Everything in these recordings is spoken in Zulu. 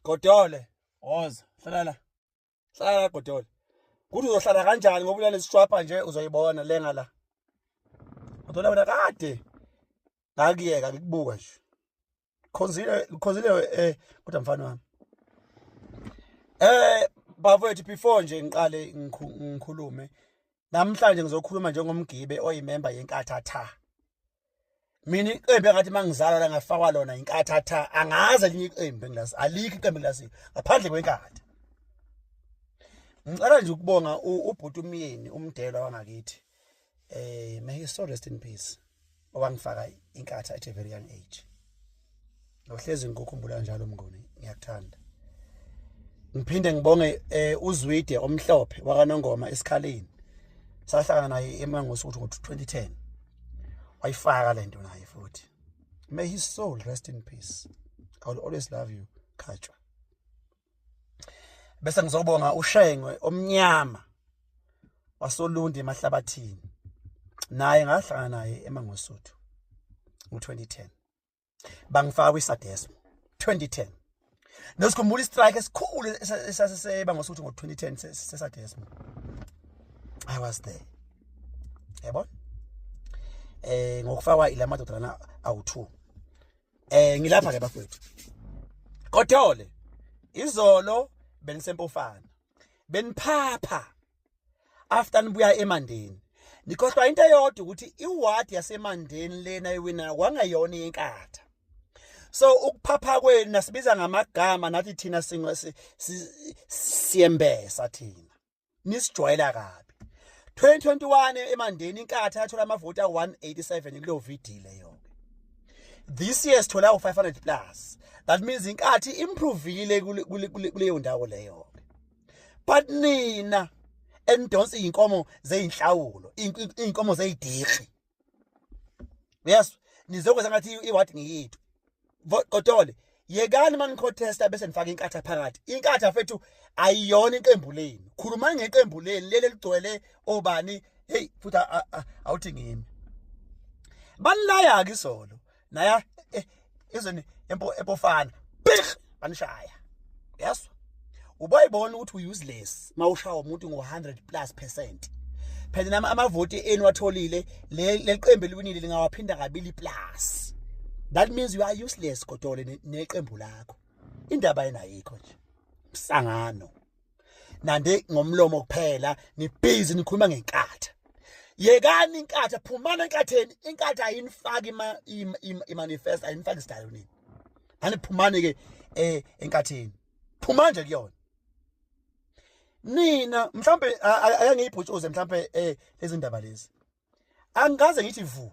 Godole, woza, hlala la. Hlala la Godole. Kuthi uzohlala kanjani ngoba ulale sishwapha nje uzoyibona lenga la. Godole wena kade. Ngakuyeka ngikubuka nje. Khonzile, khonzile eh kodwa mfana wami. Eh bafowethu before nje ngiqale ngikhulume Namhlanje ngizokhuluma njengomgibe oyimemba yenkatha tha. Mina iqembu engathi mangizala la ngafakwa lona inkatha tha angaze linye iqembu engilasi alikho iqembu engilasi ngaphandle kwenkatha. Ngicela nje ukubonga ubhuti umyeni umdelo wangakithi. Eh may he so rest in peace. owangifaka inkatha at a very young age ngohlezi ngikukhumbula njalo mnguni ngiyakuthanda ngiphinde ngibonge eh, uzwide omhlophe wakanongoma esikhaleni sahlangana naye emangosi ukuthi ukuthi 2010 wayifaka lento naye futhi may his soul rest in peace i will always love you khatshwa bese ngizobonga ushengwe omnyama wasolundi emahlabathini naye ngahlangana naye emangosuthu ngo-2010 bangifaka kwisadesmo 2010 nosikhumbula istrike esikhulu esasiseba ngosuthu ngo-2010 sesadesmo i was there yabona eh ngokufakwa ila madodana awu-two eh ngilapha ke bafowethu kodole izolo benisempofana beniphapha after nibuya emandeni nikhohlwa into eyodwa ukuthi iward yasemandeni lena iwina kwangayona inkatha so ukuphapha kwenu nasibiza ngamagama nathi thina siyembesa thina nisijwayela kabi 2021 emandeni inkatha yathola amavoti a187 kuleyo VD leyo this year sithola u500 plus that means inkathi improvile kuleyo ndawo leyo but nina enidonsa izinkomo zeinhlawulo izinkomo zeyidirhi yes nizokwenza ngathi iward ngiyithu kodole yekani manikhotesta bese nifaka inkatha phakathi inkatha fethu ayiyona iqembu lenu khulumani ngeqembu lenu leli ligcwele obani hey futhi awuthi ngimi banilaya-ke isolo naya eh, ezweni empofana big banishaya yes uboyibona ukuthi uyuseless mawushawa umuntu ngo100 plus percent phela nami amavoti enu watholile leliqembu eliwinile lingawaphinda kabili plus that means you are useless kodwa neqembu lakho indaba yena ayikho nje msangano nande ngomlomo kuphela nibhizi nikhuluma ngenkatha yekani inkatha phumana enkatheni inkatha ayinifaki ima imanifest ayinifaki isidayo nini ani phumani ke eh enkatheni phuma nje kuyona nina mhlambe ayangiyibhutshuze mhlambe eh lezindaba lezi angikaze ngithi vu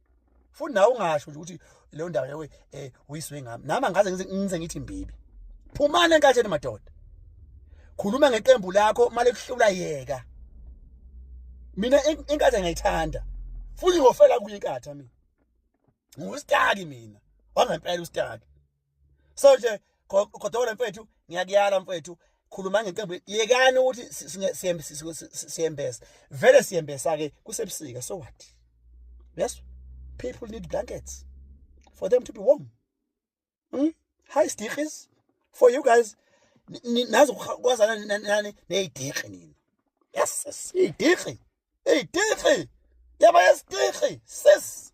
futhi nawe ungasho nje ukuthi leyo ndawo yawe eh uyiswe ngami nami angaze ngize ngithi mbibi phumani enkatheni madoda khuluma ngeqembu lakho mali kuhlula yeka mina inkatha ngiyithanda futhi ngofela kuyinkatha mina ngustaki mina wangempela ustaki so nje godokola mfethu ngiyakuyala mfethu khuluma ngeqembu yekani ukuthi siyembesa vele siyembesa-ke kusebusika so what yes people need blankets for them to be warm hmm? high stikis for you guys nazi kwazana nani neyidikhi nina yes yes idikhi idikhi yaba yesdikhi sis